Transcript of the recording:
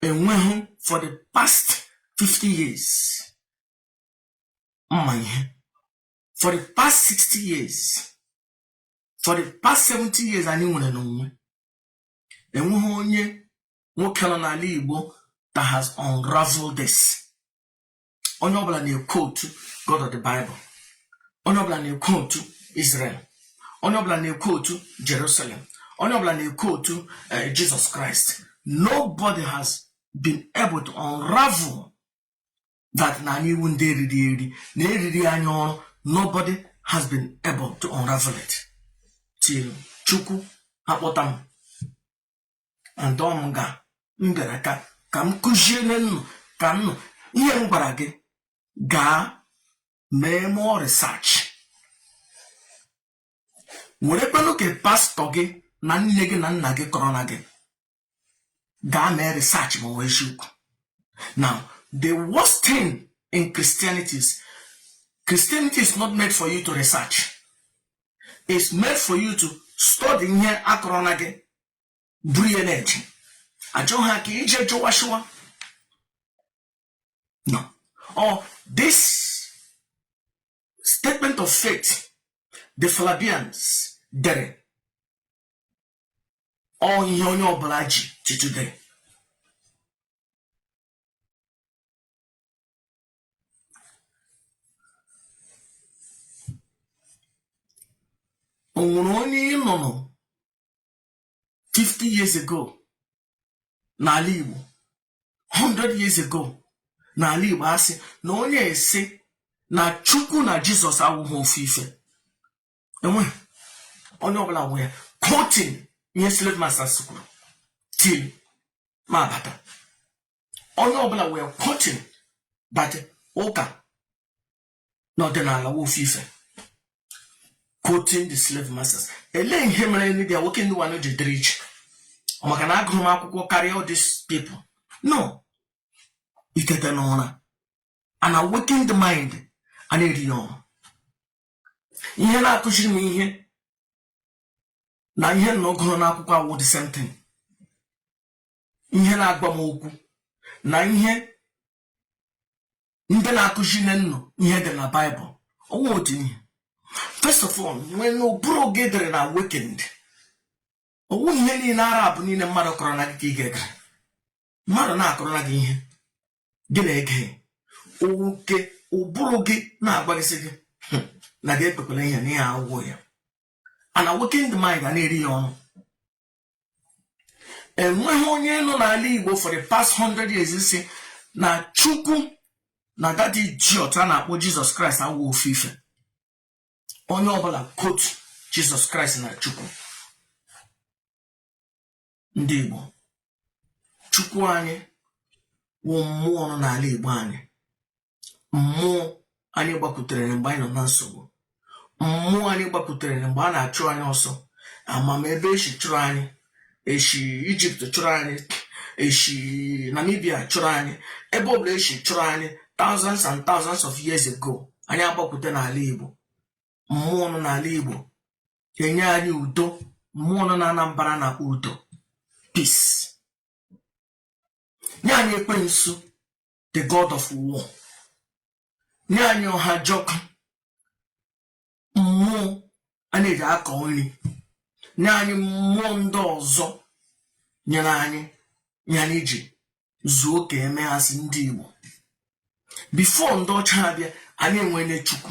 enweghị for the past 50 years mma ihe for the past 60 years for the past 70 years anyị nwere n'onwe enweghị onye nwoke nọ n'ala Igbo that has unraveled this onye ọbụla na-equote God of the Bible onye ọbụla na-equote Israel onye ọbụla na-equote Jerusalem onye ọbụla na-equote eh, Jesus Christ nobody has been able to unravel that na anyị wụ ndị e riri eri na e riri anyị ọrụ nobody has been able to unravel it till Chukwu akpọta m and ọ m ga m bịara ka ka m kụziere nnụ ka nnụ ihe m gwara gị gaa mee more research werekwanụ nke pastọ gị na nne gị na nna gị kọrọ na gị gaa mee research ma ọ wụ eziokwu now the worst thing in christianity is christianity is not made for you to research is made for you to study ihe a kọrọ na gị buru ya na-eje achọghị ha ka i je jụwa shụwa no or oh, this statement of faith the Flavians dere ọ wụ ihe onye ọbụla ji till today o nwere onye ị nụrụ 50 years ago n'ala Igbo 100 years ago n'ala Igbo asị na onye a sị na Chukwu na Jizọs awụghị ofu ife enweghị onye ọbụla were quoting ihe slave masters kwuru till m abata onye ọbụla were quoting that ụka na ọdịnala wụ ofu ife quoting the slave masters elee ihe mere the awakened one ji dịrị iche maka na agụrụ m akwụkwọ karịa all these people no itete n'ụra and awaken the mind a na-eri ya ọrụ ihe na-akụziri m ihe na ihe na ọ gụrụ n'akwụkwọ awụ the same thing ihe na-agwa m okwu na ihe ndị na-akụziri unu ihe dị na baịbụl ọ wụ otu ihe first of all when ụbụrụ gị dịrị unawakened ọ wụ ihe niile ara abụ niile mmadụ kọrọ na gị ka ị ga-egere mmadụ na-akọrọ na gị ihe gị na-ege oke ụbụrụ gị na-agwa gị sị gị hmm, na gị ekwekwala ihe na ihe agwụgwọ ya unawakened mind a na-eri ya ọnụ enweghị onye nọ n'ala igbo for the past 100 years sị na chukwu na that idiot a na-akpọ jizọs kraịst awụ ofu ife onye ọbụla kotu jizọs kraịst na chukwu ndị igbo chukwu anyị wụ mmụọ nọ n'ala igbo anyị mmụọ anyị gbakwutere mgbe anyị nọ na nsogbu mmụọ anyị gbakwutere mgbe a na-achụ anyị ọsọ ama m ebe esi chụrụ anyị esi ijipt chụrụ anyị esi namibia chụrụ anyị ebe ọbụla esi chụrụ anyị thousands and thousands of years ago anyị agbakwute n'ala igbo mmụọ nọ n'ala igbo enye anyị udo mmụọ nọ na anambra na udo peace nye anyị ekwensu the god of war nye anyị ọhajọkụ mmụọ a na-eji akọ nri nye anyị mmụọ ndị ọzọ nyere anyị nye anyị ji zuo ka e mee ha sị ndị igbo bifo ndị ọcha abịa anyị enwere chukwu